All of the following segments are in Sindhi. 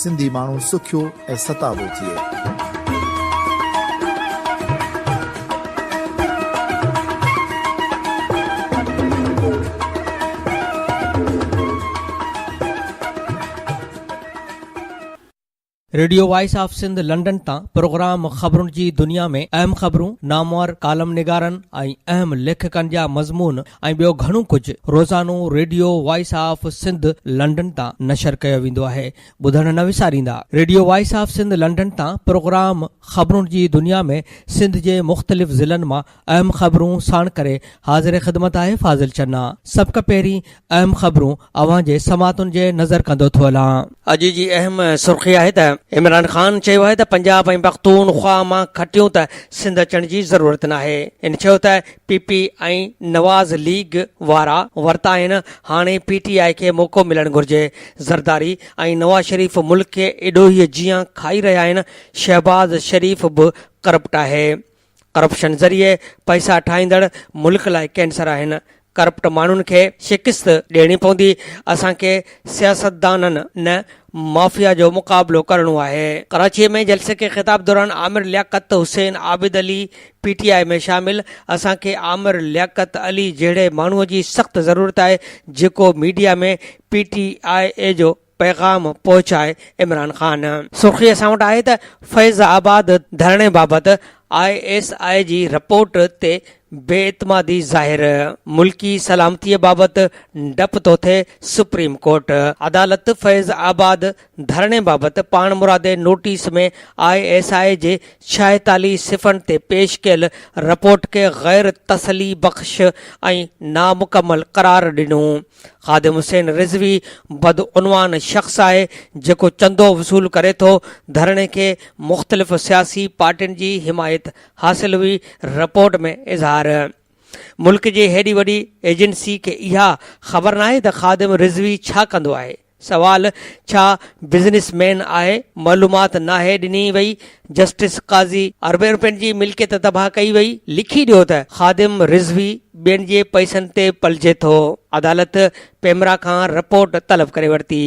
سنڌي ماڻهو سکيو ۽ ستابو ٿئي. Radio voice of Sindh London تان پروگرام خبرن جي دنيا ۾ اهم خبرون، نامور ڪالم نگارن ۽ اهم ليکڪن جا مضمون، ۽ ٻيو گهڻو ڪجهه روزانو radio voice of Sindh London تان نشر ڪيو ويندو آهي ٻڌڻ نه وساريندا radio voice of Sindh London تان پروگرام خبرون جي دنيا ۾ سنڌ جي مختلف ضلعن مان اهم خبرون ساڻ ڪري حاضر خدمت آهي فاضل چنا سڀ کان پهرين اهم خبرون اوهان جي سماعتن جي نظر ڪندو ٿو هلان. اڄ جي اهم سرخي آهي ته عمران خان چيو آهي ته پنجاب ۽ پختونخوا مان کٽيون ته سنڌ اچڻ جي ضرورت ناهي ان چيو ته پي پي ۽ نواز ليگ وارا ورتا آهن هاڻي پي ٽي آء کي موقعو ملڻ گهرجي زرداري ۽ نواز شريف ملڪ کي اڏوهي جيان کائي رهيا آهن شهباز شريف به ڪرپٽ آهي ڪرپشن ذريعي پئسا ٺاهيندڙ ملڪ لاء ڪينسر آهن ڪرپٽ ماڻهن کي شڪست ڏيڻي پوندي اسان کي سياستدانن نه مافيا جو مقابلو ڪرڻو آهي. ڪراچي ۾ جلسي کي خطاب دوران Amir Liaquat Hussain Abid Ali P T I ۾ شامل اسان کي عامر لياقت علي جهڙي ماڻهو جي سخت ضرورت آهي جيڪو ميڊيا ۾ پي ٽي آء اي جو پيغام پهچائي عمران خان. سرخي اسان وٽ آهي ته فيض آباد ڌرڻي بابت آء ايس آء جي رپورٽ تي بي اعتمادي ظاهر، ملڪي سلامتي بابت ڊپ ٿو ٿئي، سپريم ڪورٽ. عدالت فيض آباد ڌرڻي بابت پاڻمرادي نوٽيس ۾ آء ايس آء جي ڇاهيتالي صفحن تي پيش ڪيل رپورٽ کي غير تسلي بخش ۽ نامڪمل قرار ڏنو خادم حسين رضوي بدعنوان شخص آهي جيڪو چندو وصول ڪري ٿو ڌرڻي کي مختلف سياسي پارٽين جي حمايت حاصل هئي رپورٽ ۾ اظهار. ملڪ جي هيڏي وڏي ايجنسي کي اها خبر ناهي ته خادم رضوي ڇا ڪندو آهي؟ سوال، ڇا بزنس مين آهي؟ معلومات ناهي ڏني وئي جسٽس قاضي. اربين رپين جي ملڪيت تباهه ڪئي وئي، لکي ڏيو ته خادم رضوي ٻين جي پئسن تي پلجي ٿو. عدالت پيمرا کان رپورٽ طلب ڪري ورتي.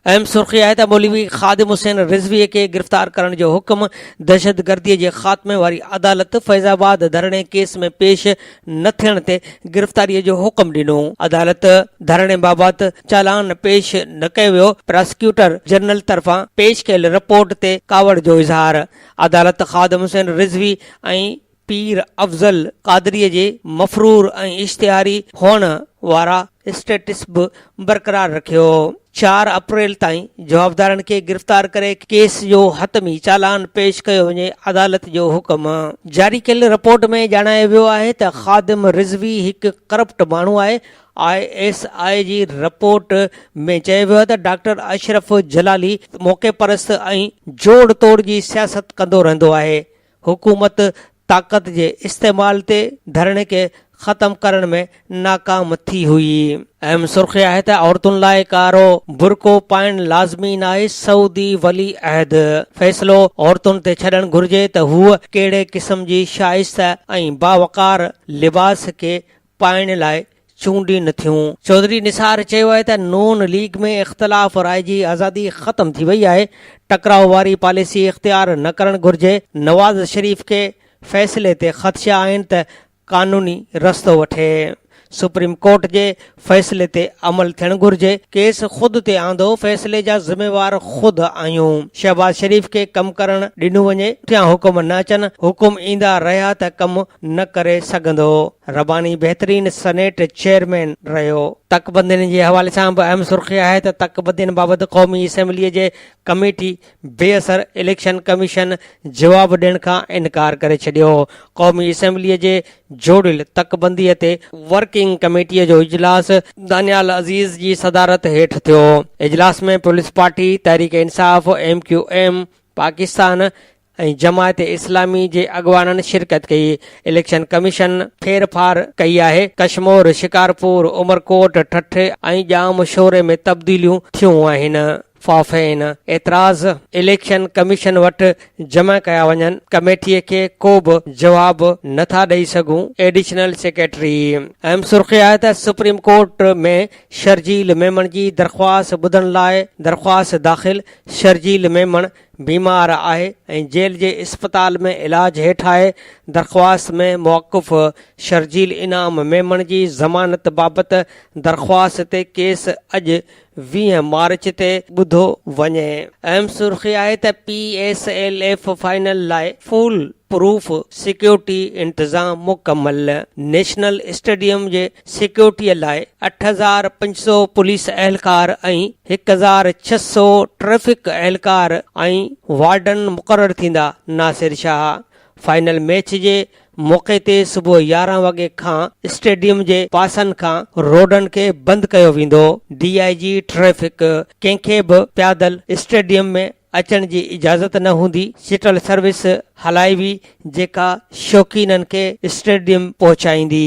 اهم سرخي آهي ته مولوي خادم حسين رضوي کي گرفتار ڪرڻ جو حڪم دهشتگردي جي خاتمي واري عدالت فيض آباد ڌرڻي ڪيس ۾ پيش نه ٿيڻ تي گرفتاري جو حڪم ڏنو. عدالت ڌرڻي بابت چالان پيش نه ڪيو ويو، پراسيڪيوٽر جنرل طرفان پيش ڪيل رپورٽ تي ڪاوڙ جو اظهار، عدالت خادم حسين رضوي ۽ پير افضل قادريء جي مفرور ۽ اشتهاري هئڻ وارا اسٽيٽس به برقرار رکيو. چار اپريل تائين جوابدارن کي گرفتار ڪري ڪيس جو حتمي چالان پيش ڪيو وڃي، عدالت جو حڪم. جاري ڪيل رپورٽ ۾ ڄاڻايو ويو آهي ته خادم رضوي هڪ ڪرپٽ ماڻهو آهي، آء ايس آء جي رپورٽ ۾ چيو ويو آهي ته ڊاڪٽر اشرف جلالي موقعي پرست ۽ جوڙ توڙ جي سياست ڪندو رهندو آهي، حڪومت طاقت جي استعمال تي ڌرڻي کي ختم ڪرڻ ۾ ناڪام ٿي هئي. اهم سرخي آهي ته عورتن لاء ڪارو برقعو پائڻ لازمي ناهي، سعودي ولي عهد فيصلو عورتن تي ڇڏڻ گهرجي ته هوء ڪهڙي قسم جي شائسته ۽ باوقار لباس کي پائڻ لاء چونڊين ٿيون. چوڌري نثار چيو آهي ته نون ليگ ۾ اختلاف راء جي آزادي ختم ٿي وئي آهي، ٽڪراء واري پاليسي اختيار نه ڪرڻ گهرجي، نواز شريف کي فيصلي تي خدشا آهن ته قانوني رستو وٺي، سپريم ڪورٽ جي فيصلي تي عمل ٿيڻ گهرجي، ڪيس خود تي آندو، فيصلي جا ذميوار خود آهيون، شهباز شريف کي ڪم ڪرڻ ڏنو وڃي، پٺيان حڪم نه اچن، حڪم ايندا رهيا ته ڪم نه ڪري سگهندو. رباني بهترين سنيٽ چيئرمين رهيو. تڪ بندين جي حوالي سان به اهم سرخي آهي ته تڪ بندين بابت قومي اسيمبلي جي ڪميٽي بي اثر اليڪشن ڪميشن جواب ڏيڻ کان انڪار ڪري ڇڏيو. قومي اسيمبلي جي جوڙيل تڪ بندي تي ورڪنگ ڪميٽي جو اجلاس دانيال عزيز جي صدارت هيٺ ٿيو. اجلاس ۾ Peoples Party, Tehreek Insaf, M Q M, Pakistan ۽ Jamaat Islami جي اڳواڻن شرڪت ڪئي اليڪشن ڪميشن ڦير ڦار ڪئي آهي ڪشمور شڪارپور عمرڪوٽ ٺٽي ۽ ڄام شوري ۾ تبديليون ٿيون آهن فافين اعتراض اليڪشن ڪميشن وٽ جمع ڪيا وڃن ڪميٽي کي ڪو به جواب نه ٿا ڏئي سگهون ايڊيشنل سيڪريٽري اهم سرخي آهي ته سپريم ڪورٽ ۾ شرجيل ميمڻ جي درخواست ٻڌڻ لاء درخواست داخل شرجيل ميمڻ بيمار آهي ۽ جيل جي اسپتال ۾ علاج هيٺ آهي، درخواست ۾ موقف شرجيل انعام ميمڻ جي ضمانت بابت درخواست تي ڪيس اڄ ويهه مارچ تي ٻڌو وڃي. اهم سرخي آهي ته P S L F final لاء فول پروف سيڪيورٽي انتظام مڪمل، نيشنل اسٽيڊيم جي سيڪيورٽيء لاء اٺ هزار پنج سؤ پوليس اهلڪار ۽ هڪ هزار ڇهه سؤ ٽريفڪ اهلڪار ۽ وارڊن مقرر ٿيندا، ناصر شاهه فائنل ميچ جي موقعي تي صبح يارهن وڳي کان اسٽيڊيم جي پاسن کان روڊن کي بند ڪيو ويندو، ڊي آء جي ٽريفڪ ڪنهن کي به پيادل اسٽيڊيم ۾ اچڻ جي اجازت نه هوندي شٽل سروس هلائبي جيڪا شوقينن کي اسٽيڊيم پهچائيندي.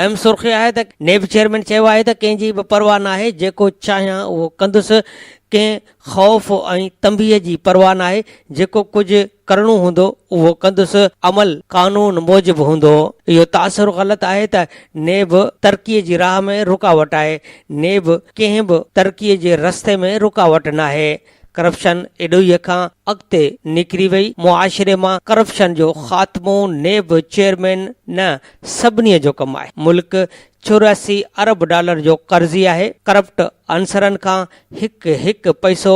اهم سرخي آهي ته نيب چيئرمين چيو آهي ته ڪنهن جي به پرواهه ناهي جيڪو چاهيان اهو ڪندس ڪنهن خوف ۽ تنبيهه جي پرواهه ناهي جيڪو ڪجهه ڪرڻو هوندو اهو ڪندس عمل قانون موجب هوندو اهو تاثر غلط آهي ته نيب ترقي جي راهه ۾ رڪاوٽ آهي نيب ڪنهن به ترقي جي رستي ۾ رڪاوٽ ناهي. ڪرپشن ايڏوهيء کان اڳتي نڪري وئي، معاشري مان ڪرپشن جو خاتمو نيب چيئرمين نه سڀني جو ڪم آهي، ملڪ چورياسي ارب ڊالر جو قرضي آهي، ڪرپٽ عنصرن کان هڪ هڪ پئسو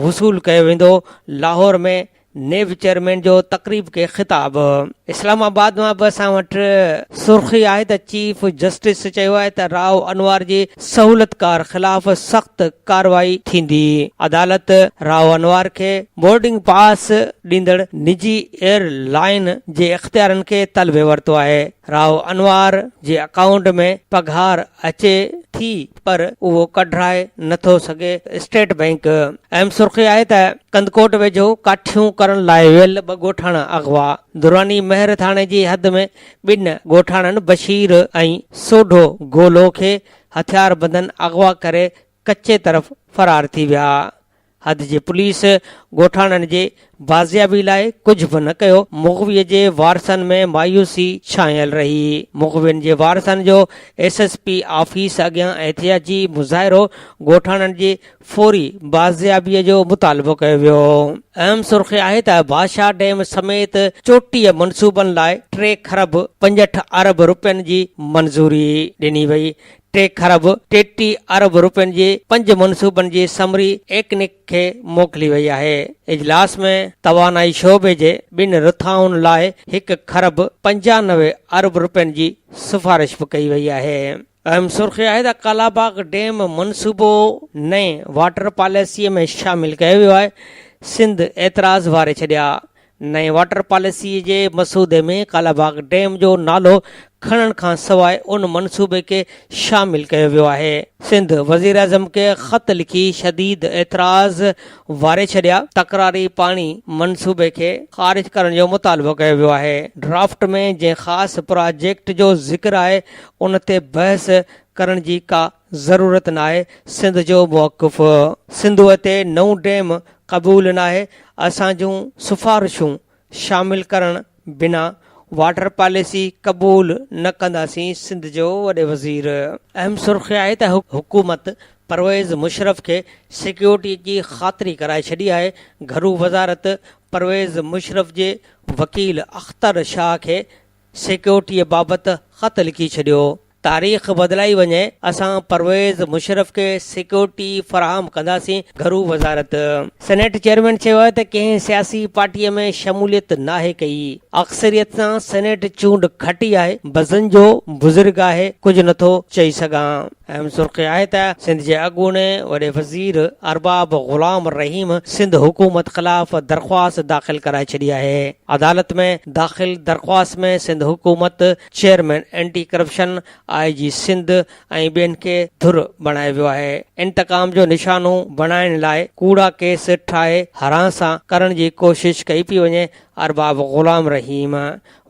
وصول ڪيو ويندو، لاهور ۾ نيب چيئرمين جو تقريب کي خطاب اسلام آباد مان به اسان وٽ سرخي آهي ته چيف جسٽس چيو آهي ته راء انوار جي سهولتڪار خلاف سخت ڪارروائي ٿيندي، عدالت راء انوار کي بورڊنگ پاس ڏيندڙ نجي ايئر لائين جي اختيارن کي طلبي ورتو آهي، راء انوار جي اڪائونٽ ۾ پگهار اچي ٿي. پر اهو ڪڍرائي نه ٿو سگهي، اسٽيٽ بئنڪ اهم سرخي آهي ته ڪنڌڪوٽ ويجهو ڪاٺيون ڪرڻ لاء ويل ٻه ڳوٺاڻا اغوا، دراني مهر ٿاڻي جي حد ۾ ٻن ڳوٺاڻن بشير ۽ سوڍو گولو کي هٿياربندن اغوا ڪري ڪچي طرف فرار ٿي ويا. حد جي پوليس ڳوٺاڻن جي بازيابي لاء ڪجهه به نه ڪيو، مغوي جي وارثن ۾ مايوسي ڇانيل رهي، مغوين جي وارثن جو ايس ايس پي آفيس اڳيان احتجاجي مظاهرو، ڳوٺاڻن جي فوري بازيابي جو مطالبو ڪيو ويو. اهم سرخي آهي ته بادشاهه ڊيم سميت چوٽيء منصوبن لاء ٽي کرب پنجهٺ ارب رپين جي منظوري ڏني وئي، ٽي کرب ٽيٽيهه ارب رپين جي پنج منصوبن جي سمري ايڪنڪ کي موڪلي وئي آهي. اجلاس ۾ توانائي شعبي جي ٻن رٿائن لاء هڪ کرب پنجانوي ارب رپين جي سفارش به ڪئي وئي آهي. اهم سرخي آهي ته ڪالاباغ ڊيم منصوبو نئين واٽر پاليسيء ۾ شامل ڪيو ويو آهي، سنڌ اعتراض واري ڇڏيا، نئين واٽر پاليسيء جي مسودي ۾ ڪالاباغ ڊيم جو نالو کڻڻ کان سواء ان منصوبي کي شامل ڪيو ويو آهي. سنڌ وزيراعظم کي خط لکي شديد اعتراض واري ڇڏيا، تڪراري پاڻي منصوبي کي خارج ڪرڻ جو مطالبو ڪيو ويو آهي، ڊرافٽ ۾ جنهن خاص پراجيڪٽ جو ذڪر آهي ان تي بحث ڪرڻ جي ڪا ضرورت ناهي سنڌ جو موقف. سنڌوء تي نئون ڊيم قبول ناهي اسان جون سفارشون شامل ڪرڻ بنا واٽر پاليسي قبول نه ڪنداسين سنڌ جو وڏي وزير. اهم سرخي آهي ته حڪومت پرويز مشرف کي سيڪيورٽي جي خاطري ڪرائي ڇڏي آهي، گهرو وزارت پرويز مشرف جي وڪيل اختر شاهه کي سيڪيورٽي بابت خط لکي ڇڏيو، تاريخ بدلائي وڃي اسان پرويز مشرف کي سيڪيورٽي فراهم ڪنداسين، گهرو وزارت. سينيٽ چيئرمين چيو آهي ته ڪنهن سياسي پارٽي ۾ شموليت ناهي ڪئي، اڪثريت سان سينيٽ چونڊ کٽي آهي، بزن جو بزرگ آهي، ڪجهه نٿو چئي سگهان. اهم سرخي آهي ته سنڌ جي اڳوڻي وڏي وزير ارباب غلام رحيم سنڌ حڪومت خلاف درخواست داخل ڪرائي ڇڏي آهي، عدالت ۾ داخل درخواست ۾ سنڌ حڪومت chairman anti corruption, I G Sindh ۽ ٻين کي ڌر بڻايو ويو آهي، انتقام جو نشانو بڻائڻ لاء ڪوڙا ڪيس ٺاهي هراساں ڪرڻ جي ڪوشش ڪئي پئي وڃي، ارباب غلام رحيم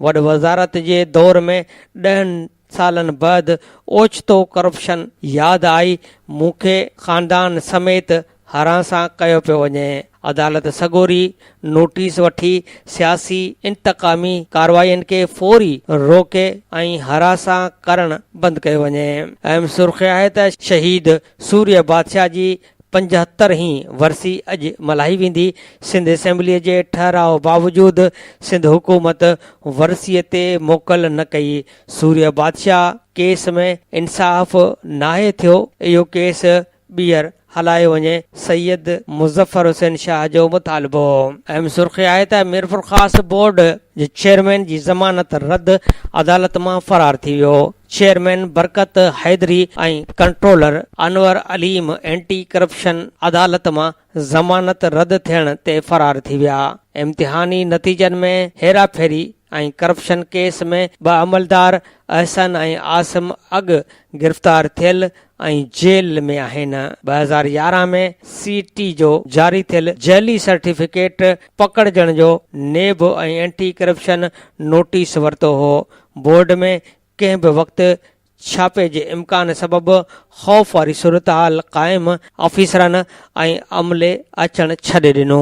وڏ وزارت جي دور ۾ ڏهن سالن بعد اوچتو ڪرپشن ياد آئي، مون کي خاندان سميت هاران سان ڪيو پيو وڃي، عدالت سڳوري نوٽيس وٺي سياسي انتقامي ڪارروائين کي فوري روڪي ۽ هاران سان ڪرڻ بند ڪيو وڃي. اهم سرخي آهي ته شهيد سوريه بادشاهه جي پنجهتر هين ورسي اڄ ملهائي ويندي، سنڌ اسيمبلي جي ٺهراء باوجود سنڌ حڪومت ورسي تي موڪل نه ڪئي، سوريه بادشاهه ڪيس ۾ انصاف ناهي ٿيو، اهو ڪيس ٻيهر هلايو وڃي، سيد مظفر حسين شاهه جو مطالبو هو. اهم سرخي آهي ته ميرپورخاص بورڊ جي چيئرمين جي ضمانت رد عدالت مان فرار ٿي ويو، chairman Barkat Haideri ۽ controller Anwar Aleem anti corruption عدالت مان ضمانت رد ٿيڻ تي فرار ٿي ويا، امتحاني نتيجن ۾ هيراڦيري ۽ ڪرپشن ڪيس ۾ ٻه عملدار احسن ۽ عاصم اڳ گرفتار ٿيل ۽ جيل ۾ آهن، ٻه هزار يارهن ۾ سي ٽي جو جاري ٿيل جعلي سرٽيفڪيٽ پڪڙجڻ جو نيب ۽ اينٽي ڪرپشن نوٽيس ورتو هو، بورڊ ۾ ڪنهن به وقت ڇاپي جي امڪان سبب خوف واري صورتحال قائم، آفيسرن ۽ عملي اچڻ ڇڏي ڏنو.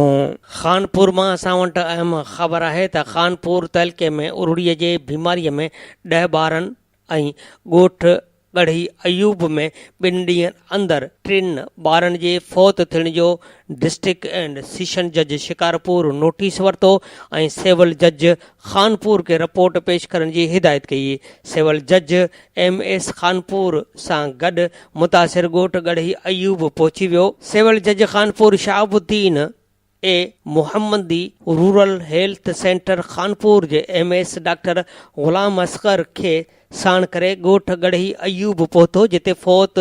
خانپور مان اسان وٽ اهم خبر آهي ته خانپور تعلقي ۾ ارڙي جي بيماري ۾ ڏهه ٻارن ۽ ڳوٺ ڳڙهي ايوب ۾ ٻن ڏينهن اندر ٽن ٻارن جي فوت ٿيڻ جو ڊسٽرڪٽ اينڊ سيشن جج شڪارپور نوٽيس ورتو ۽ سول جج خانپور کي رپورٽ پيش ڪرڻ جي هدايت ڪئي. سول جج ايم ايس خانپور سان گڏ متاثر ڳوٺ ڳڙهي ايوب پهچي ويو. سول جج خانپور شهاب الدين اي محمدي رورل هيلٿ سينٽر خانپور جي M S doctor Ghulam Asghar کي ساڻ ڪري ڳوٺ ڳڙهي ايوب پهتو جتي فوت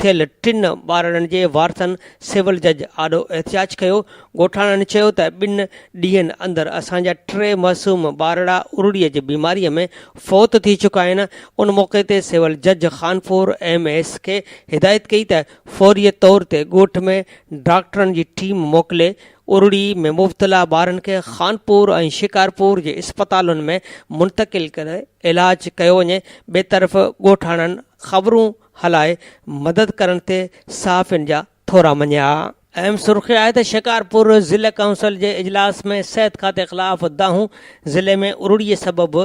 ٿيل ٽن ٻارڙن جي وارثن سول جج آڏو احتجاج ڪيو، ڳوٺاڻن چيو ته ٻن ڏينهن اندر اسان جا ٽي معصوم ٻارڙا ارڙي جي بيماري ۾ فوت ٿي چڪا آهن، ان موقعي تي سول جج خانپور ايم ايس کي هدايت ڪئي ته فوري طور تي ڳوٺ ۾ ڊاڪٽرن جي ٽيم موڪلي ارڙي ۾ مبتلا ٻارن کي خانپور ۽ شڪارپور جي اسپتالن ۾ منتقل ڪري علاج ڪيو وڃي، ٻئي طرف ڳوٺاڻن خبرون هلائي مدد ڪرڻ تي صحافين جا ٿورا مڃيا. اهم سرخي آهي ته شڪارپور ضلع ڪائونسل جي اجلاس ۾ صحت کاتي خلاف دانهون، ضلعي ۾ ارڙي سبب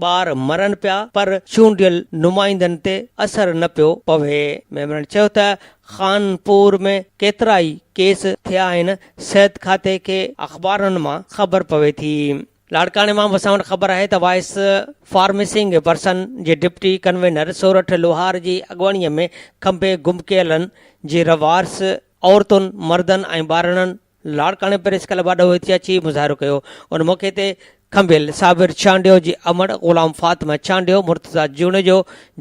ٻار مرن پيا پر چونڊيل نمائندن تي اثر نه پيو پوي، ميمبرن چيو ته خانپور ۾ ڪيترائي ڪيس ٿيا آهن، صحت کاتي کي اخبارن مان خبر پوي ٿي. لاڙڪاڻي مان به اسان وٽ خبر آهي ته وائيس فارمسنگ پرسن جي ڊپٽي ڪنوينر سورٺ لوهار جي اڳواڻيء ۾ کنڀي گم ڪيلن جي رهوارس عورتن، مردن ۽ ٻارڙن لاڙڪاڻي پريس ڪلب آڏو احتجاجي اچي مظاهرو ڪيو ان موقعي تي کنڀيل صابر چانڊيو جي امڙ، غلام فاطمه چانڊيو، مرتضيٰ جوڻيجو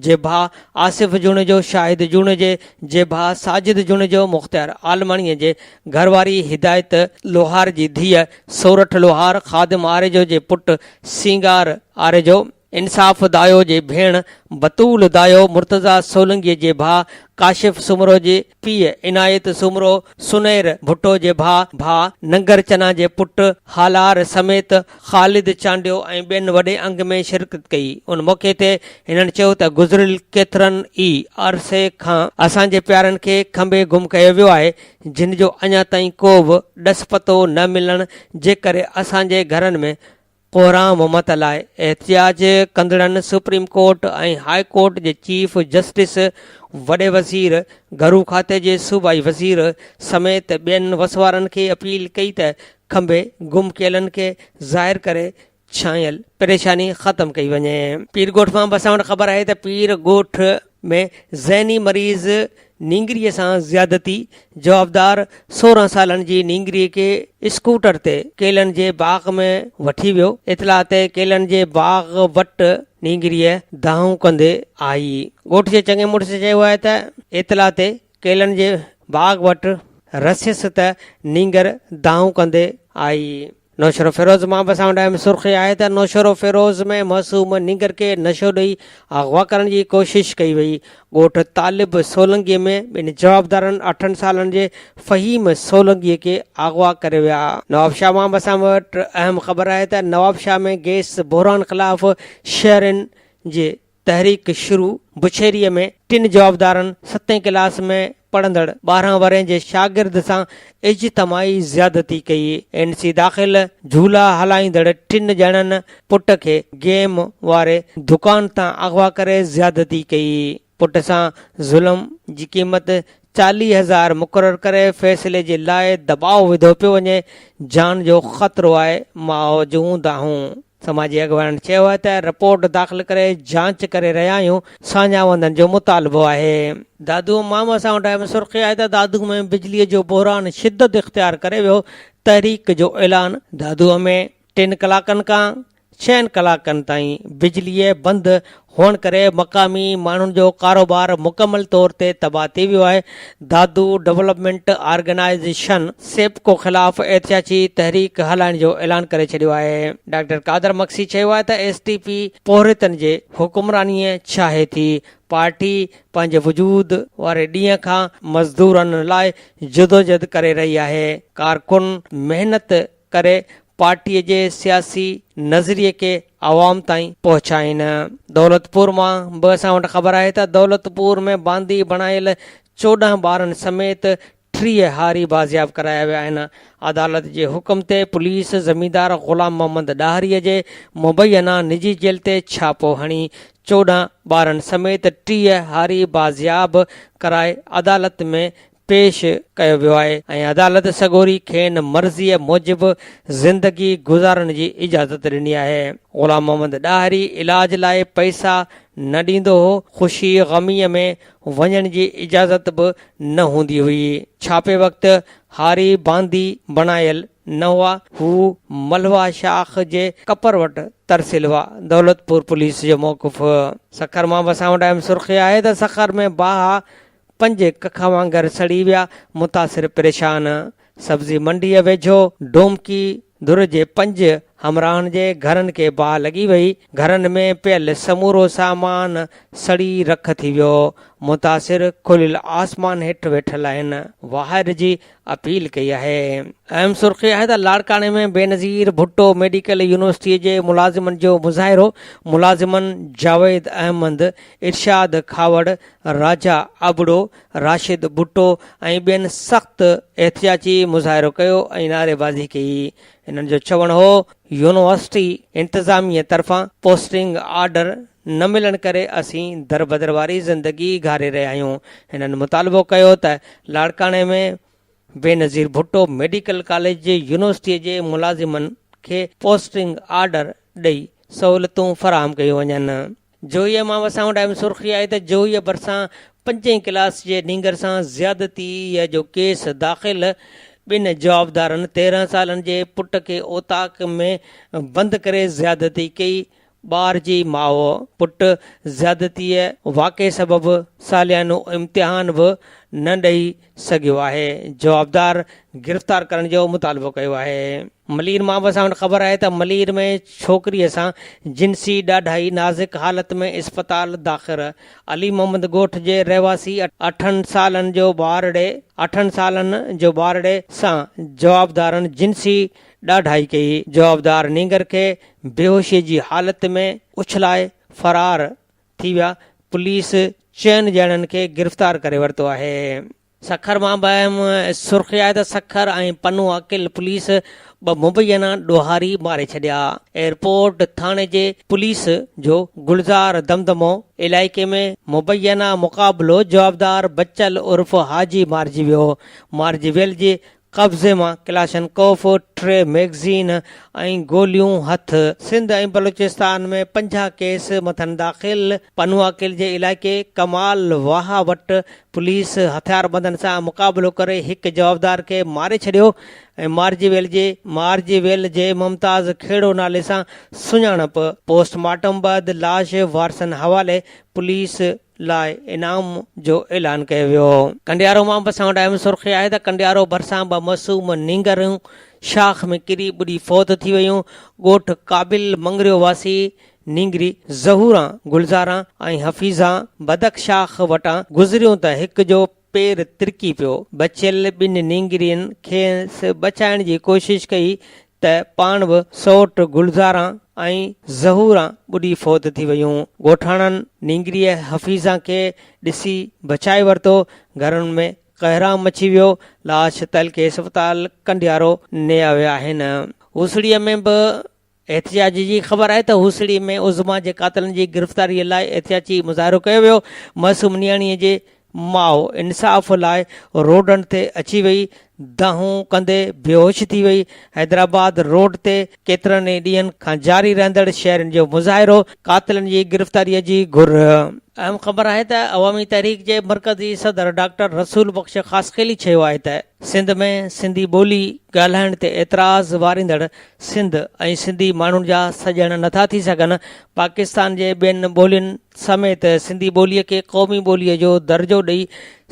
جي ڀاء آصف جوڻيجو، شاهد جوڻيجي جي ڀاء ساجد جوڻيجو، مختيار عالماڻيء جي گهر واري هدايت لوهار جي ڌيء سورٺ لوهار، خادم آريجو جي پٽ سينگار آريجو، انصاف دايو جي ڀيڻ بتول دايو مرتضيٰ سولنگيء جي ڀاء ڪاشف سومرو جي پيء عنايت سومرو سنئر ڀٽو جي ڀاء ڀاء ننگر چنا جي پٽ هالار سميت خالد چانڊيو ۽ ٻين وڏي انگ ۾ شرڪت ڪئي ان موقعي تي هنن چيو ته گذريل ڪيترن ئي عرصي کان اسان جي پيارن کي کنڀي گم ڪيو ويو آهي جن جو اڃا تائين ڪو به ڏس پتو نه ملڻ جي ڪري اسان جي گهرن ۾ ڪوران ممت لاء احتجاج ڪندڙن سپريم ڪورٽ ۽ هاء ڪورٽ جي چيف جسٽس، وڏي وزير، گهرو کاتي جي صوبائي وزير سميت ٻين وسوارن کي اپيل ڪئي ته کنڀي گم ڪيلن کي ظاهر ڪري ڇانيل پريشاني ختم ڪئي وڃي. پير ڳوٺ مان بساوڻ خبر آهي ته پير ڳوٺ ۾ ذهني مريض نينگري سان زيادتي جوابدار سورهن سالن جي نينگري کي اسڪوٽر تي ڪيلن جي باغ ۾ وٺي ويو اطلاع تي ڪيلن جي باغ وٽ نينگري دانهون ڪندي آئي ڳوٺ جي چڱي مڙس چيو آهي ته اطلاع تي ڪيلن جي باغ وٽ رسيس ته نينگر دانهون ڪندي آئي نوشهروفيروز مان به اسان وٽ اهم سرخي آهي ته نوشهروفيروز ۾ معصوم نينگر کي نشو ڏئي اغوا ڪرڻ جي ڪوشش ڪئي وئي. ڳوٺ طالب سولنگي ۾ ٻن جوابدارن اٺن سالن جي فهيم سولنگي کي اغوا ڪري ويا. نوابشاهه مان به اسان وٽ اهم خبر آهي ته نوابشاهه ۾ گئس بحران خلاف شهرين جي. تحريڪ شروع بشيري ۾ ٽن جوابدارن ستين ڪلاس ۾ پڙهندڙ ٻارهن ورهين جي شاگرد سان اجتماعي زيادتي ڪئي اين سي داخل جهولا هلائيندڙ ٽن ڄڻن پٽ کي گيم واري دڪان تان اغوا ڪري زيادتي ڪئي پٽ سان ظلم جي قيمت چاليهه هزار مقرر ڪري فيصلي جي لاء دٻاء وڌو پيو وڃي، جان جو خطرو آهي، ماء جون دانهون. سماجي اڳواڻن چيو آهي ته رپورٽ داخل ڪري جاچ ڪري رهيا آهيون، ساڃاهه وندن جو مطالبو آهي. دادو امام اسان وٽ اهم سرخي آهي ته دادو ۾ بجلي جو بحران شدت اختيار ڪري ويو، تحريڪ جو اعلان دادو ۾. ٽن ڪلاڪن کان ڇهن ڪلاڪن تائين بجلي بند هئڻ ڪري مقامي ماڻهن جو ڪاروبار مڪمل طور تي تباهه ٿي ويو آهي، دادو ڊولپمينٽ آرگنائيزيشن، سيپڪو خلاف احتجاجي تحريڪ هلائڻ جو اعلان ڪري ڇڏيو آهي. ڊاڪٽر قادر مگسي چيو آهي ته ايس ٽي پي پورهيتن جي حڪمراني ڇاهي ٿي، پارٽي پنهنجي وجود واري ڏينهن کان مزدورن لاء جدوجھد ڪري رهي آهي، ڪارڪن محنت ڪري پارٽي جي سياسي نظريي کي عوام تائين پهچائين. دولتپور مان به اسان وٽ خبر آهي ته دولتپور ۾ باندي بڻايل چوڏهن ٻارن سميت ٽيهه هاري بازياب ڪرايا ويا آهن. عدالت جي حڪم تي پوليس زميندار غلام محمد ڏاهري جي مبينا نجي جيل تي ڇاپو هڻي چوڏهن ٻارن سميت ٽيهه هاري بازياب ڪرائي عدالت ۾ پيش ڪيو ويو آهي ۽ عدالت سڳوري کين مرضيء موجب زندگي گذارڻ جي اجازت ڏني آهي. غلام محمد ڏاهري علاج لاء پئسا نه ڏيندو هو، خوشي غميء ۾ وڃڻ جي اجازت به نه هوندي هئي. ڇاپي وقت هاري باندي بڻايل نه هئا. هو ملهوا شاخ جي ڪپر وٽ ترسيل هئا. دولتپور پوليس جو موقف. سکر مان وسان وٽ اهم سرخي آهي ته سکر ۾ باها پنج ڪکا وانگر سڙي ويا، متاثر پريشان سبزي منڊيء ويجهو ڊومڪي ڌر جي پنج همراهن جي گهرن کي باهه لڳي وئي، گهرن ۾ پيل سمورو سامان سڙي رک ٿي ويو، متاثر کليل آسمان هيٺ ويٺل آهن، واهر جي اپيل ڪئي آهي. اهم سرخي آهي ته لاڙڪاڻي ۾ بينظير ڀٽو ميڊيڪل يونيورسٽي جي ملازمن جو مظاهرو، ملازمن جاويد احمد، ارشاد کهاوڙ، راجا ابڙو، راشد ڀٽو ۽ ٻين سخت احتجاجي مظاهرو ڪيو ۽ نعريبازي ڪئي، هنن جو چوڻ هو يونيورسٽي انتظاميه طرفان پوسٽنگ آرڊر نه ملڻ ڪري اسين دربدر واري زندگي گهاري رهيا آهيون هنن مطالبو ڪيو ته لاڙڪاڻي ۾ بينظير ڀٽو ميڊيڪل ڪاليج جي يونيورسٽي جي ملازمن کي پوسٽنگ آرڊر ڏئي سهولتون فراهم ڪيون وڃن جوهي مان وسائون ٽائيمز سرخي آهي ته جوهي ڀرسان پنجين ڪلاس جي نينگر سان زيادتي جو ڪيس داخل ٻن جوابدارن تيرهن سالن جي پٽ کي اوطاق ۾ بند ڪري زيادتي ڪئي ٻار جي ماء پٽ زيادتيء واقعي سبب ساليانو امتحان به نه ڏئي سگهيو آهي، جوابدار گرفتار ڪرڻ جو مطالبو ڪيو آهي. ملير ماء سان وٽ خبر آهي ته ملير ۾ ڇوڪريء سان جنسي ڏاڍائي نازڪ حالت ۾ اسپتال داخل علي محمد ڳوٺ جي رهواسي اٺن سالن جو ٻارڙي اٺن سالن جو ٻارڙي سان جوابدارن جنسي ڏاڍائي ڪئي، جوابدار نينگر کي بيهوشي جي حالت ۾ اڇلائي فرار ٿي ويا، پوليس چئن ڄڻن کي گرفتار ڪري ورتو آهي. سکر مان به اهم سرخي آهي ته سکر ۽ پنو عاقل پوليس ٻه مبينا ڏوهاري ماري ڇڏيا، ايئرپورٽ ٿاڻي جي پوليس جو گلزار دمدمو علائقي ۾ مبينا مقابلو جوابدار بچل عرف حاجي مارجي ويو، مارجي ويل جي قبضي مان ڪلاشن ڪوف، ٽي ميگزين ۽ گوليون هٿ. سنڌ ۽ بلوچستان ۾ پنجاهه ڪيس مٿن داخل، پنواڪيل جي علائقي ڪمال واهه وٽ پوليس هٿياربندن سان مقابلو ڪري هڪ جوابدار کي ماري ڇڏيو ۽ مارجي ويل جي مارجي ويل جي ممتاز کهڙو نالي سان سڃاڻپ، پوسٽ مارٽم بعد لاش وارثن حوالي پوليس لاء انعام جو اعلان ڪيو ويو. ڪنڊيارو مان به اسان وٽ اهم سرخي آهي ته ڪنڊيارو ڀرسان ٻه معصوم نينگريون شاخ ۾ ڪري ٻڏي فوت ٿي ويون. ڳوٺ قابل مڱريو واسي نينگري ظهوران، گلزاران ۽ حفيظان بدڪ شاخ وٽان گذريون ته هڪ جو پير ترڪي پيو. بچيل ٻن نينگرين کيس بچائڻ جي ڪوشش ڪئي ته پاڻ به سئوٽ گلزارا ۽ ظهورا ٻڏي فوت ٿي ويون. ڳوٺاڻن نينگريء حفيظا کي ڏسي بچائي ورتو. گهرن ۾ ڪهرام مچي ويو. لاش تعلقي اسپتال ڪنڊيارو نيا ويا آهن. هوسڙيء ۾ به احتجاج جي خبر آئي ته هوسڙي ۾ عظميٰ جي قاتلن جي گرفتاري لاء احتجاجي مظاهرو ڪيو ويو، معصوم نياڻي جي ماء انصاف لاء روڊن تي اچي وئي، دانهون ڪندي بيهوش ٿي وئي، حيدرآباد روڊ تي ڪيترن ئي ڏينهن کان جاري رهندڙ شهرين جو مظاهرو، قاتلن جي گرفتاري جي گهر. اهم خبر آهي ته عوامي تحريڪ جي مرڪزي صدر ڊاڪٽر رسول بخش خاصخيلي چيو آهي ته سنڌ ۾ سنڌي ٻولي ڳالهائڻ تي اعتراض واريندڙ سنڌ ۽ سنڌي ماڻهن جا سڄڻ نٿا ٿي سگهن، پاڪستان جي ٻين ٻولين سميت سنڌي ٻوليء کي قومي ٻوليء جو درجو ڏئي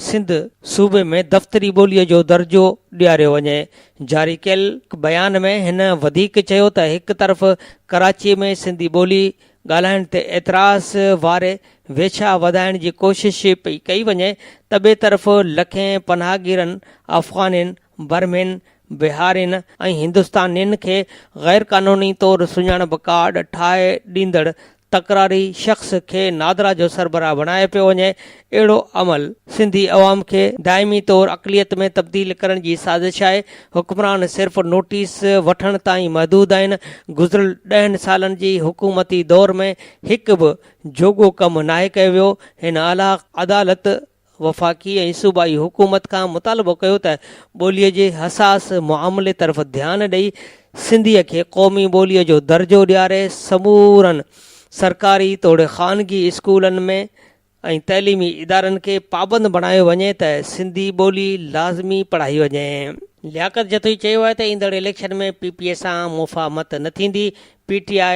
سنڌ صوبي ۾ دفتري ٻوليء جو درجو ڏياريو وڃي. جاري ڪيل بيان ۾ هن وڌيڪ چيو ته هڪ طرف ڪراچي ۾ سنڌي ٻولي ڳالهائڻ تي اعتراض واري ويڇا وڌائڻ جي ڪوشش پئي ڪئي وڃي ته ٻئي طرف لکين پناهگيرن افغانين برمين، بهارين ۽ هندستانين کي غيرقانوني طور سڃاڻپ ڪارڊ ٺاهي ڏيندڙ تڪراري شخص کي نادرا جو سربراهه بڻايو پيو وڃي، اهڙو عمل سنڌي عوام کي دائمي طور اقليت ۾ تبديل ڪرڻ جي سازش آهي، حڪمران صرف نوٽيس وٺڻ تائين محدود آهن، گذريل ڏهن سالن جي حڪومتي دور ۾ هڪ به جوڳو ڪم ناهي ڪيو ويو، هن اعليٰ عدالت وفاقي ۽ صوبائي حڪومت کان مطالبو ڪيو ته ٻوليء جي حساس معاملي طرف ڌيان ڏئي سنڌيء کي قومي ٻوليء جو درجو ڏياري سمورن سرڪاري توڙي خانگي اسڪولن ۾ ۽ تعليمي ادارن کي پابند بڻايو وڃي ته سنڌي ٻولي لازمي پڙهائي وڃي. لياقت جتوئي چيو آهي ته ايندڙ اليڪشن ۾ پي پي اي سان مفاهمت نه ٿيندي، پي ٽي آء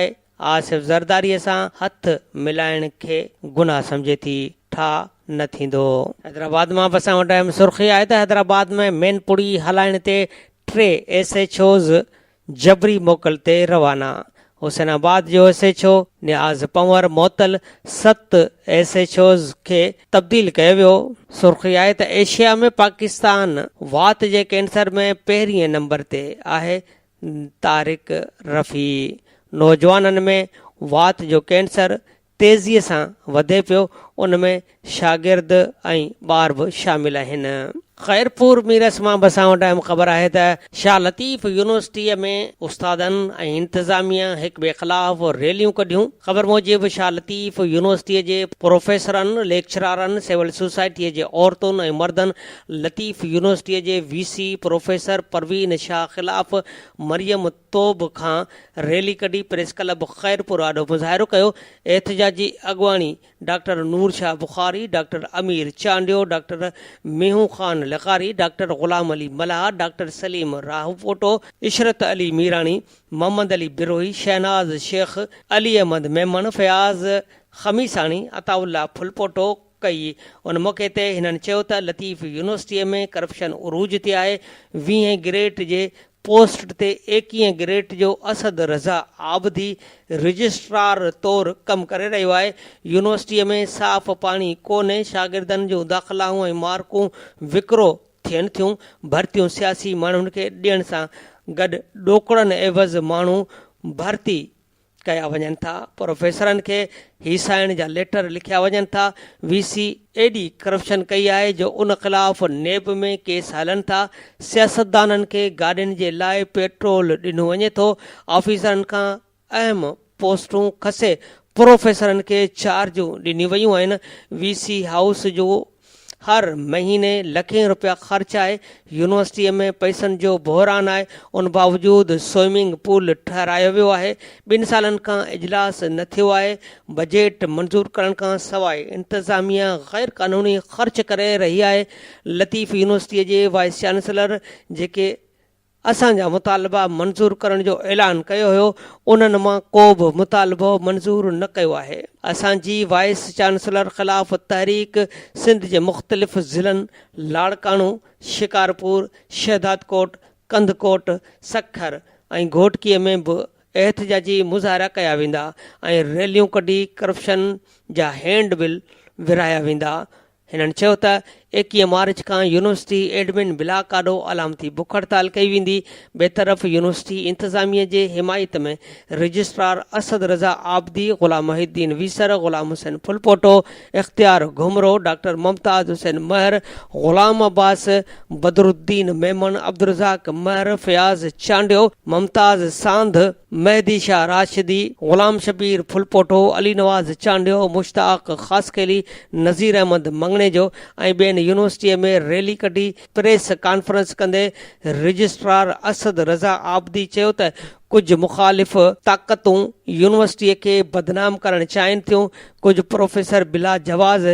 آصف زرداريء سان هٿ ملائڻ کي گناهه سمجهي ٿي، ٺاء نه ٿيندو. حيدرآباد مان به اسان وٽ اهم سرخي آهي ته حيدرآباد ۾ مين پڙي هلائڻ تي ٽي ايس ايڇ اوز جبري موڪل تي روانا، حسين آباد جو S H O Niaz Panhwar معطل ست ايس ايڇ اوز کي تبديل ڪيو ويو، سرخي آهي ته ايشيا ۾ پاڪستان وات جي ڪينسر ۾ پهرينء نمبر تي آهي طارق رفيع، نوجوانن ۾ وات جو ڪينسر تيزيء سان وڌي پيو، ان ۾ شاگرد ۽ ٻار به شامل آهن. خيرپور ميرس مان به اسان وٽ اهم خبر آهي ته شاهه لطيف يونيورسٽيء ۾ استادن ۽ انتظاميا هڪٻئي خلاف ريليون ڪڍيون. خبر موجب شاهه لطيف يونيورسٽيء جي پروفيسرن، ليڪچرارن، سول سوسائٽيء جي عورتن ۽ مردن لطيف يونيورسٽيء جي V C professor Parveen Shah خلاف مريم توب کان ريلي ڪڍي پريس ڪلب خيرپور آڏو مظاهرو ڪيو، احتجاجي اڳواڻي doctor Noor Shah Bukhari, doctor Amir Chandio, doctor مينهون خان لغاري، ڊاڪٽر غلام علي ملاح، ڊاڪٽر سليم راهوپوٽو، عشرت علي ميراڻي، محمد علي بروهي، شهناز شيخ، علي احمد ميمڻ، فياض خميساڻي، عطاء الله ڦلپوٽو، ڪئي، ان موقعي تي هنن چيو ته لطيف يونيورسٽيء ۾ ڪرپشن عروج تي آهي، ويهين گريڊ جي پوسٽ تي ايڪيهين گريڊ جو اسد رضا عابدي رجسٽرار طور ڪم ڪري رهيو آهي، يونيورسٽيء ۾ صاف پاڻي ڪونهي، شاگردن جون داخلائون ۽ مارڪون وڪرو ٿين ٿيون، ڀرتيون سياسي ماڻهن کي ڏيڻ سان گڏ ڏوڪڙن عيوض ماڻهو ڀرتي ڪيا وڃن ٿا، پروفيسرن کي هي سائڻ جا ليٽر لکيا وڃن ٿا، وي سي ايڏي ڪرپشن ڪئي آهي جو ان خلاف نيب ۾ ڪيس هلن ٿا، سياستدانن کي گاڏين جي لاء پيٽرول ڏنو وڃي ٿو، آفيسرن کان اهم پوسٽون کسي پروفيسرن کي چارجون ڏنيون ويون آهن، وي سي هائوس جو هر مهيني لکين رپيا خرچ آهي، يونيورسٽيء ۾ پئسن جو بحران آهي، ان باوجود سوئمنگ پول ٺهرايو ويو آهي، ٻن سالن کان اجلاس نه ٿيو آهي، بجيٽ منظور ڪرڻ کان سواء انتظاميا غيرقانوني خرچ ڪري رهي آهي، لطيف يونيورسٽيء جي وائيس چانسلر جيڪي اسان جا مطالبا منظور ڪرڻ جو اعلان ڪيو هيو انهن مان ڪو به مطالبو منظور نه ڪيو آهي اسان جي وائيس چانسلر خلاف تحريڪ سنڌ جي مختلف ضلعن لاڙڪاڻو شڪارپور شهدادڪوٽ ڪنڌڪوٽ سکر ۽ گهوٽڪي ۾ به احتجاجي مظاهرا ڪيا ويندا ۽ ريليون ڪڍي ڪرپشن جا هينڊ بل ورهايا ويندا هنن چيو ته ايڪيهه مارچ کان يونيورسٽي ايڊمن بلاڪ آڏو علامتي بک هڙتال ڪئي ويندي، ٻئي طرف يونيورسٽي انتظاميه جي حمايت ۾ رجسٽرار اسد رضا عابدي، غلام محي الدين ويسر، غلام حسين ڦلپوٽو، اختيار گهمرو، ڊاڪٽر ممتاز حسين مهر، غلام عباس، بدرالدين ميمڻ، عبدالرزاق مهر، فياض چانڊيو، ممتاز ساند، مهدي شاهه راشدي، غلام شبير ڦلپوٽو، علي نواز چانڊيو، مشتاق خاصخيلي، نظير احمد مڱڻيجو ۽ ٻين يونيورسٽيء ۾ ريلي ڪڍي پريس ڪانفرنس ڪندي رجسٽرار اسد رضا عابدي چيو ته ڪجهه مخالف طاقتون يونيورسٽيء کي بدنام ڪرڻ چاهين ٿيون، ڪجهه پروفيسر بلا جواز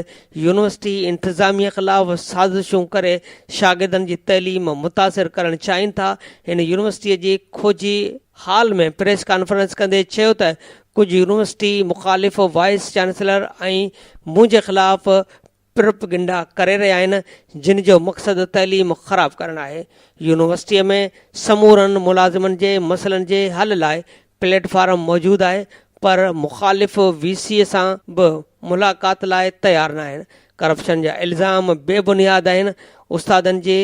يونيورسٽي انتظاميه خلاف سازشون ڪري شاگردن جي تعليم متاثر ڪرڻ چاهين ٿا، هن يونيورسٽي جي کوجي هال ۾ پريس ڪانفرنس ڪندي چيو ته ڪجهه يونيورسٽي مخالف وائيس چانسلر ۽ منهنجي خلاف پروپيگنڊا ڪري رهيا آهن جن جو مقصد تعليم خراب ڪرڻ آهي، يونيورسٽي ۾ سمورن ملازمن جي مسئلن جي حل لاء پليٽ فارم موجود آهي پر مخالف وي سي سان به ملاقات لاء تيار ناهن، ڪرپشن جا الزام بي بنياد آهن، استادن جي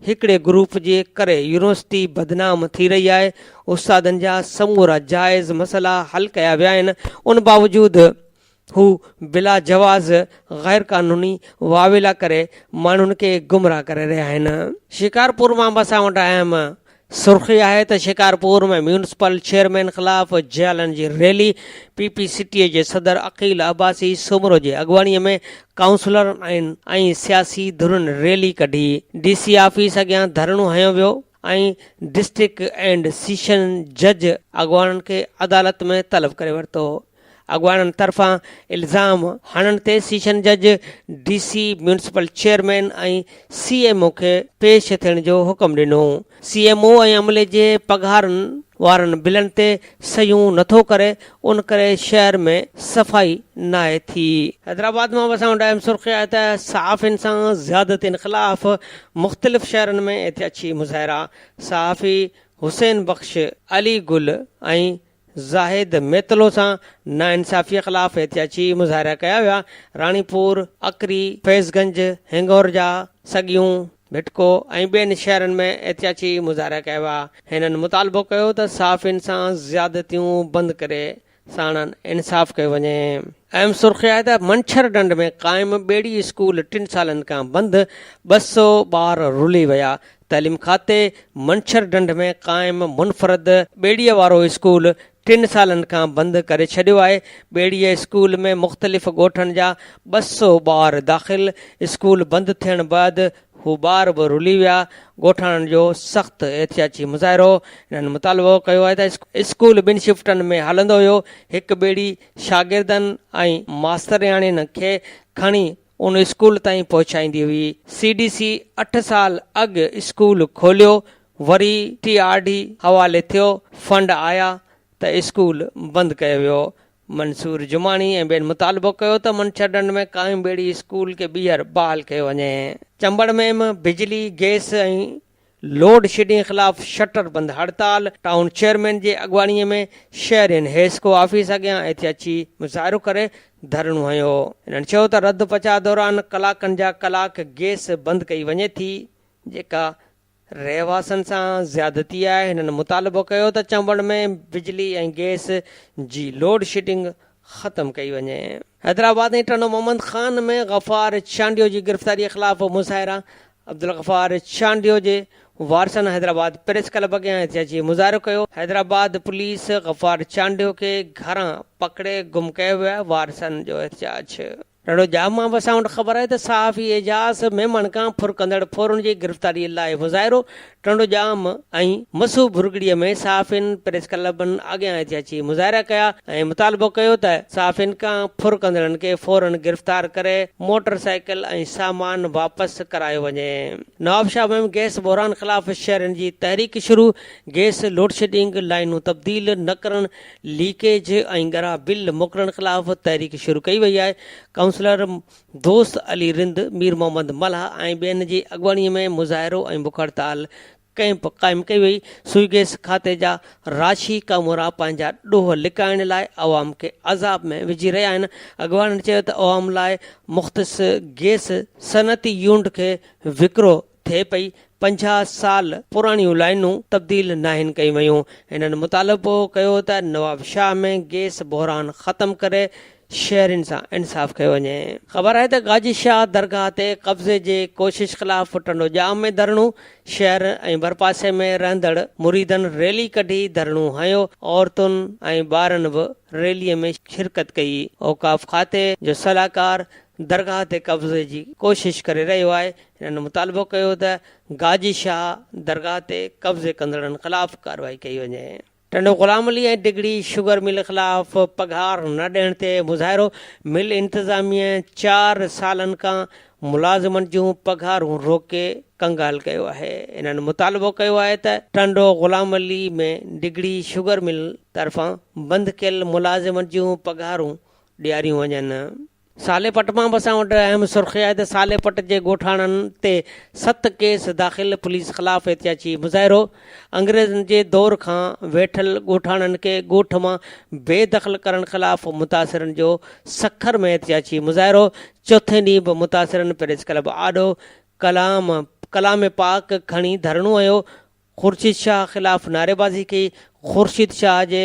هڪڙي گروپ جي ڪري يونيورسٽي بدنام ٿي رهي آهي، استادن جا سمورا جائز مسئلا حل ڪيا ويا آهن ان باوجود هو بلا جواز غير قانوني واويلا ڪري ماڻهن کي گمراهه ڪري رهيا آهن. شڪارپور مان به اسان وٽ اهم سرخي آهي ته شڪارپور ۾ ميونسپل چيئرمين خلاف جيالن جي rally, P P C T A جي صدر عقيل عباسي سومرو جي اڳواڻي ۾ ڪائونسلرن ۽ سياسي ڌرين ريلي ڪڍي، ڊي سي آفيس اڳيان ڌرڻو هنيو ويو ۽ ڊسٽرڪٽ اينڊ سيشن جج اڳواڻن کي عدالت ۾ طلب ڪري ورتو. اڳواڻن طرفان الزام هڻڻ تي سيشن جج، D C, municipal chairman ۽ C M O کي پيش ٿيڻ جو حڪم ڏنو. سي ايم او ۽ عملي جي پگهارن وارن بلن تي صحيحون نٿو ڪري، ان ڪري شهر ۾ صفائي ناهي ٿي. حيدرآباد مان وسائڻ ڏانهن اهم سرخي آهي ته صحافين سان زيادتين خلاف مختلف شهرن ۾ احتجاجي مظاهرا، صحافي حسين بخش، علي گل ۽ زاهد ميتلو سان ناانصافيء خلاف احتجاجي مظاهرا ڪيا ويا، راڻيپور، اڪري، فيض گنج، هنگورجا، سڳيون، ڀٽڪو ۽ ٻين شهرن ۾ احتجاجي مظاهرا ڪيا ويا، هنن مطالبو ڪيو ته صحافين سان زيادتيون بند ڪري ساڻن انصاف ڪيو وڃي. اهم سرخي آهي ته منڇر ڍنڍ ۾ قائم ٻيڙي اسڪول ٽن سالن کان بند، ٻه سؤ ٻار رلي ويا، تعليم کاتي منڇر ڍنڍ ۾ قائم منفرد ٻيڙيء وارو اسڪول ٽن سالن کان بند ڪري ڇڏيو آهي، ٻيڙيء اسڪول ۾ مختلف ڳوٺن جا ٻه سؤ ٻار داخل، اسڪول بند ٿيڻ بعد هو ٻار به رلي ويا، ڳوٺاڻن جو سخت احتجاجي مظاهرو، انهن مطالبو ڪيو آهي ته اسڪول ٻن شفٽن ۾ هلندو هيو، هڪ ٻيڙي شاگردن ۽ ماسترياڻين کي کڻي ان اسڪول تائين پهچائيندي هئي. سي ڊي سي اٺ سال اڳ اسڪول کوليو وري ٽي آر ڊي حوالي ٿيو فنڊ آيا ته اسڪول بند ڪيو ويو. منصور جماڻي ۽ ٻين مطالبو ڪيو ته منڇرڍنڍ ۾ قائم ٻيڙي اسڪول کي ٻيهر بحال ڪيو وڃي. چمبڙ ۾ به بجلي، گئس ۽ لوڊ شيڊنگ خلاف شٽر بند هڙتال، ٽائون چيئرمين جي اڳواڻي ۾ شهرين حيسڪو آفيس اڳيان احتجاجي مظاهرو ڪري ڌرڻو هنيو، هنن چيو ته رد پچاء دوران ڪلاڪن جا ڪلاڪ گيس بند ڪئي وڃي ٿي جيڪا رهواسين سان زيادتي آهي، هنن مطالبو ڪيو ته چمبڙ ۾ بجلي ۽ گيس جي لوڊ شيڊنگ ختم ڪئي وڃي. حيدرآباد ۽ ٽنڊو محمد خان ۾ غفار چانڊيو جي گرفتاري خلاف مظاهرا، عبدالغفار چانڊيو جي وارثن حيدرآباد پريس ڪلب اڳيان احتجاجي مظاهرو ڪيو. حيدرآباد پوليس غفار چانڊيو کي گهران پڪڙي گم ڪيو ويو آهي، وارثن جو احتجاج. ٽنڊو ڄام مان وسائڻ وٽ خبر آهي ته صحافي اعجاز ميمڻ کان ڦرڪندڙ ڦورن جي گرفتاري لاء مظاهرو، ٽنڊوڄام ۽ مسو ڀرڳڙيء ۾ صحافين پريس ڪلبن اڳيان اٿي اچي مظاهرا ڪيا ۽ مطالبو ڪيو ته صحافين کان ڦر ڪندڙن کي فورن گرفتار ڪري موٽر سائيڪل ۽ سامان واپس ڪرايو وڃي. نوابشاهه ۾ گئس بحران خلاف شهرين جي تحريڪ شروع، گئس لوڊشيڊنگ، لائينون تبديل نه ڪرڻ، ليڪيج ۽ ڳرا بل موڪلڻ خلاف تحريڪ شروع ڪئي وئي آهي، ڪائونسلر دوست علي رند، مير محمد ملاح ۽ ٻين جي اڳواڻي ۾ مظاهرو ۽ بک هڙتال ڪئمپ قائم ڪئي وئي، سوئي گئس کاتي جا راشي ڪامورا پنهنجا ڏوهه لڪائڻ لاء عوام کي عذاب ۾ وجهي رهيا آهن، اڳواڻن چيو ته عوام لاء مختص گئس صنعتي يونٽ کي وڪرو ٿئي پئي، پنجاهه سال پراڻيون لائينون تبديل ناهن ڪيون ويون، هنن مطالبو ڪيو ته نوابشاهه ۾ گيس بحران ختم ڪري شهرين سان انصاف ڪيو وڃي. خبر آهي ته غازي شاهه درگاهه تي قبضي جي ڪوشش خلاف ٽنڊو ڄام ۾ ڌرڻو، شهر ۽ ڀرپاسي ۾ رهندڙ مريدن ريلي ڪڍي ڌرڻو هنيو، عورتن ۽ ٻارن به ريلي ۾ شرڪت ڪئي، اوقاف کاتي جو صلاحڪار درگاهه تي قبضي جي ڪوشش ڪري رهيو آهي، هنن مطالبو ڪيو ته گاجي شاهه درگاهه تي قبضي ڪندڙن خلاف ڪارروائي ڪئي وڃي. ٽنڊو غلام علي ۽ ڊگهڙي شگر مل خلاف پگهار نه ڏيڻ تي مظاهرو، مل انتظاميه چار سالن کان ملازمن جون پگهارون روڪي ڪنگال ڪيو آهي، هنن مطالبو ڪيو آهي ته ٽنڊو غلام علي ۾ ڊگهڙي شگر مل طرفان بند ڪيل ملازمن جون پگهارون ڏياريون وڃن. سالي پٽ مان به اسان وٽ اهم سرخي آهي ته سالي پٽ جي ڳوٺاڻن تي ست ڪيس داخل، پوليس خلاف احتجاجي مظاهرو، انگريزن جي دور کان ويٺل ڳوٺاڻن کي ڳوٺ مان بي دخل ڪرڻ خلاف متاثرن جو سکر ۾ احتجاجي مظاهرو، چوٿين ڏينهن به متاثرن پريس ڪلب آڏو ڪلام ڪلام پاڪ کڻي ڌرڻو هنيو، خورشيد شاهه خلاف نعريبازي ڪئي، خورشيد شاهه جي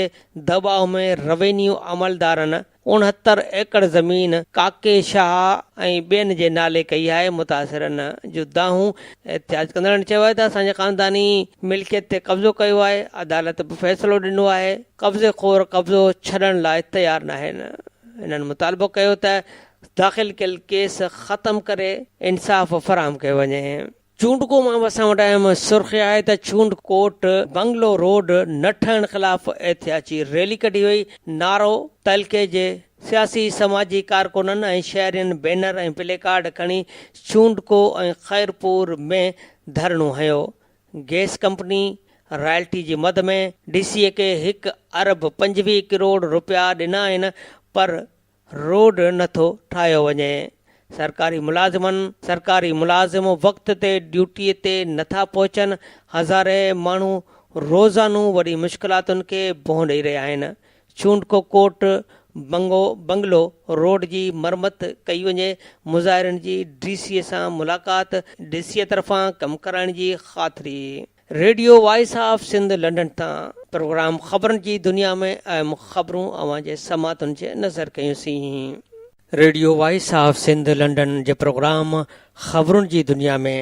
دٻاء ۾ روينيو عملدارن اڻهتر ايڪڙ زمين ڪاڪي شاهه ۽ ٻين جي نالي ڪئي آهي، متاثرن جون دانهون، احتجاج ڪندڙن چيو آهي ته اسان جي خانداني ملڪيت تي قبضو ڪيو آهي، عدالت به فيصلو ڏنو آهي، قبضي خور قبضو ڇڏڻ لاء تيار ناهن، هنن مطالبو ڪيو ته داخل ڪيل ڪيس ختم ڪري انصاف فراهم ڪيو وڃي. چونڊڪو مان به اسان وٽ اهم سرخي آهي ته چونڊ ڪوٽ بنگلو روڊ نه ٺهڻ خلاف احتياجي ريلي ڪڍي وئي، نعرو، تعلقي جي سياسي سماجي ڪارڪنن ۽ شهرين بينر ۽ پلي ڪارڊ کڻي چونڊڪو ۽ خيرپور ۾ ڌرڻو هنيو، گئس ڪمپني رائلٽي جي مد ۾ ڊي سي اي کي هڪ ارب پنجويهه ڪروڙ روپيا ڏنا آهن پر روڊ نه ٿو ٺاهيو وڃي، سرڪاري ملازمن، سرڪاري ملازم وقت تي ڊيوٽي تي نه ٿا پهچن، هزارين ماڻهو روزانو وڏي مشڪلاتن کي بنهه ڏئي رهيا آهن، چونڊڪو ڪوٽ بنگو بنگلو روڊ جي مرمت ڪئي وڃي، مظاهرين جي ڊي سي سان ملاقات، ڊي سي طرفان ڪم ڪرائڻ جي خاطري. Radio voice of Sindh London تان پروگرام خبرن جي دنيا ۾ اهم خبرون اوهان جي سماعتن جي نظر ڪيون سين. Radio voice of Sindh London جي پروگرام خبرن جي دنيا ۾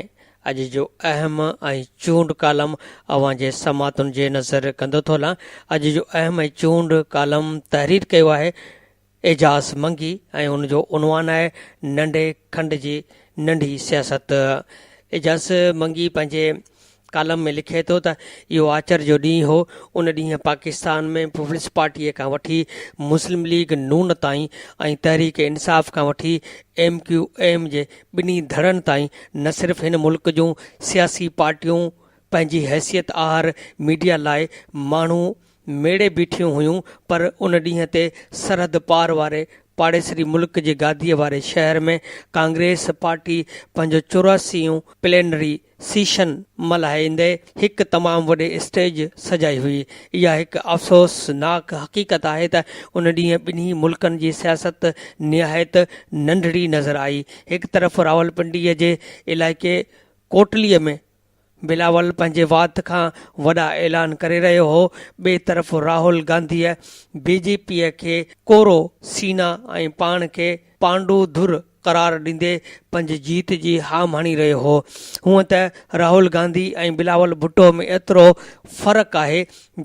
اڄ جو اهم ۽ چونڊ ڪالم اوهان جي سماعتن جي نظر ڪندو ٿو هلان. اڄ جو اهم ۽ چونڊ ڪالم تحرير ڪيو آهي. اعجاز منگي ۽ ان جو عنوان آهي ننڍي کنڊ جي ننڍي سياست. اعجاز منگي پنهنجي ڪالم ۾ لکي ٿو ته اهو آچر جو ڏينهن هو، ان ڏينهن پاڪستان ۾ پيپلز پارٽيء کان وٺي مسلم ليگ نون تائين ۽ تحريڪ انصاف کان وٺي ايم ڪيو ايم جي ٻنهي ڌڙن تائين نه صرف هن ملڪ جون سياسي پارٽيون پنهنجي حيثيت آهر ميڊيا لاء ماڻهو ميڙي بيٺيون هيون پر ان ڏينهن تي سرحد پار واري پاڙيسري ملڪ جي گاديء واري شهر ۾ ڪانگريس پارٽي پنهنجو چوراسي يون پلينري سيشن ملهائيندي هڪ تمام وڏي اسٽيج سجائي هئي. اها هڪ افسوس ناڪ حقيقت آهي ته ان ڏينهن ٻنهي ملڪن جي سياست نهايت ننڍڙي نظر آئي. هڪ طرف راولپنڊيء جي علائقي ڪوٽليء ۾ بلاول پنهنجي وات کان وڏا اعلان ڪري رهيو هو، ٻئي طرف راهول گانڌيء بي جي پيء کي ڪورو سينا ۽ پاڻ کي پانڊو ڌر قرار ڏيندي پنهنجي جيت جي هام هڻي رهيو هو. هونء ته راهول گانڌي ۽ بلاول ڀٽو ۾ ايترو فرق آهي،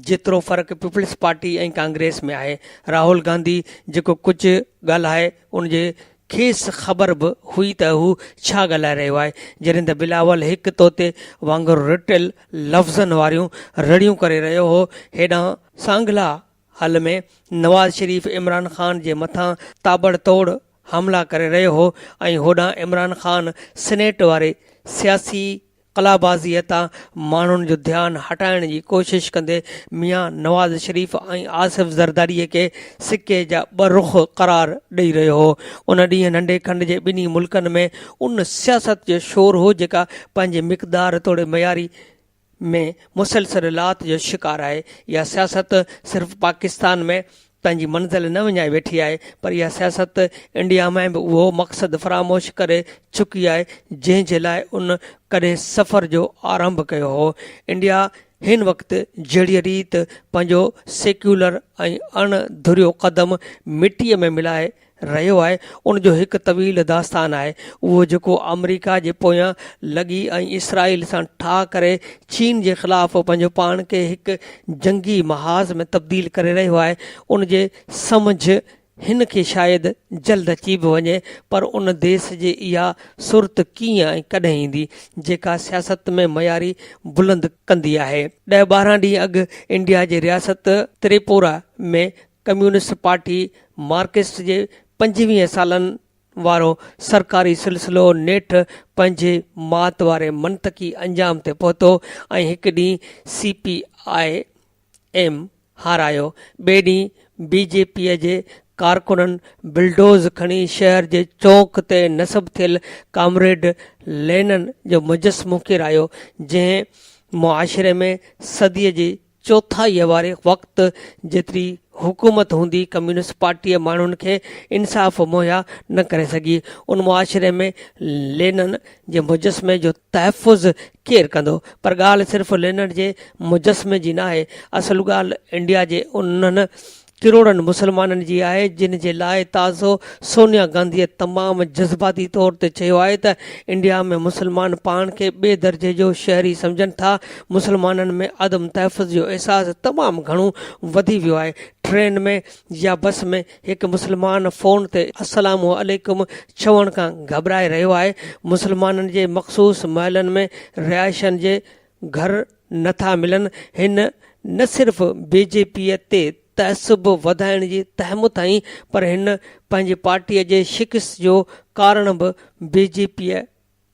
جيترو فرق پيپلز پارٽي ۽ ڪانگريس ۾ آهي. راهول گانڌي جيڪو ڪجهه ڳالهائي، ان جي کيس خبر به هئي ته هو ڇا ڳالهائي رهيو آهي، جڏهن ته بلاول هڪ طوطي وانگر رٽيل لفظن واريون رڙيون ڪري رهيو هو، هيڏانهن سانگلا هل ۾ نواز شريف عمران خان جي مٿان تاٻڙتوڙ حملا ڪري رهيو هو ۽ هوڏانهن عمران خان سينيٽ واري سياسي قلابازيء تان ماڻهن جو ڌيان هٽائڻ جي ڪوشش ڪندي ميان نواز شريف ۽ آصف زرداريء کي سڪي جا ٻه رخ قرار ڏئي رهيو هو. ان ڏينهن ننڍي کنڊ جي ٻنهي ملڪن ۾ ان سياست جو شور هو جيڪا پنهنجي مقدار توڙي معياري ۾ مسلسل لات جو شڪار آهي. اها سياست صرف پاڪستان ۾ پنهنجي منزل نه وڃائي ويٺي آهي پر اها سياست انڊيا ۾ به اهو مقصد فراموش ڪري چڪي آهي جنهن جي لاء ان ڪڏهن سفر جو آرنڀ ڪيو هو انڊيا هن وقت جهڙي ريت پنهنجو سيڪيولر ۽ اڻ ڌريو قدم مٽيء ۾ ملائي رهيو آهي ان جو هڪ طويل داستان آهي اهو جيڪو آمريڪا جي پويان لڳي ۽ اسرائيل سان ٺاهه ڪري چين جي خلاف پنهنجو پاڻ کي هڪ جنگي محاذ ۾ تبديل ڪري رهيو آهي ان جي سمجهه هن کي شايد جلد اچي به وڃي پر ان ديس جي اها سرت ڪيئن ۽ ڪڏهن ايندي جيڪا سياست ۾ معياري بلند ڪندي آهي ڏهه ٻارهن ڏينهن اڳ انڊيا جي رياست تريپورا ۾ ڪميونسٽ پارٽي مارڪسٽ جي پنجويهن سالن وارو سرڪاري سلسلو نيٺ پنهنجي مات واري منطقي انجام تي پهتو ۽ هڪ ڏينهن سي پي آء ايم هارايو، ٻئي ڏينهن بي جي پي جي ڪارڪنن بلڊوز کڻي شهر جي چونڪ تي نصب ٿيل ڪامريڊ لينن جو مجسمو ڪيرايو، جنهن معاشري ۾ صديء جي چوٿائيء واري وقت جيتري حڪومت هوندي ڪميونسٽ پارٽيء ماڻهن کي انصاف مهيا نه ڪري سگهي. ان معاشري ۾ لينن جي مجسمي جو تحفظ ڪير ڪندو؟ پر ڳالهه صرف لينن جي مجسمي جي ناهي، اصل ڳالهه انڊيا جي انهن ڪروڙن مسلمانن جي آهي جن جي لاء تازو سونيا گانڌيء تمام جذباتي طور تي چيو آهي ته انڊيا ۾ مسلمان پاڻ کي ٻئي درجي جو شهري سمجهن ٿا مسلمانن ۾ عدم تحفظ جو احساس تمام گهڻو وڌي ويو آهي ٽرين ۾ يا بس ۾ هڪ مسلمان فون تي السلام عليڪم چوڻ کان گهٻرائي رهيو آهي مسلمانن جي مخصوص محلن ۾ رهائشين جي گهر نه ٿا ملن، هن نه صرف بي جي پي تي تعصب وڌائڻ جي تهمت هنئي پر هن پنهنجي پارٽي جي شڪست جو ڪارڻ به بي جي پي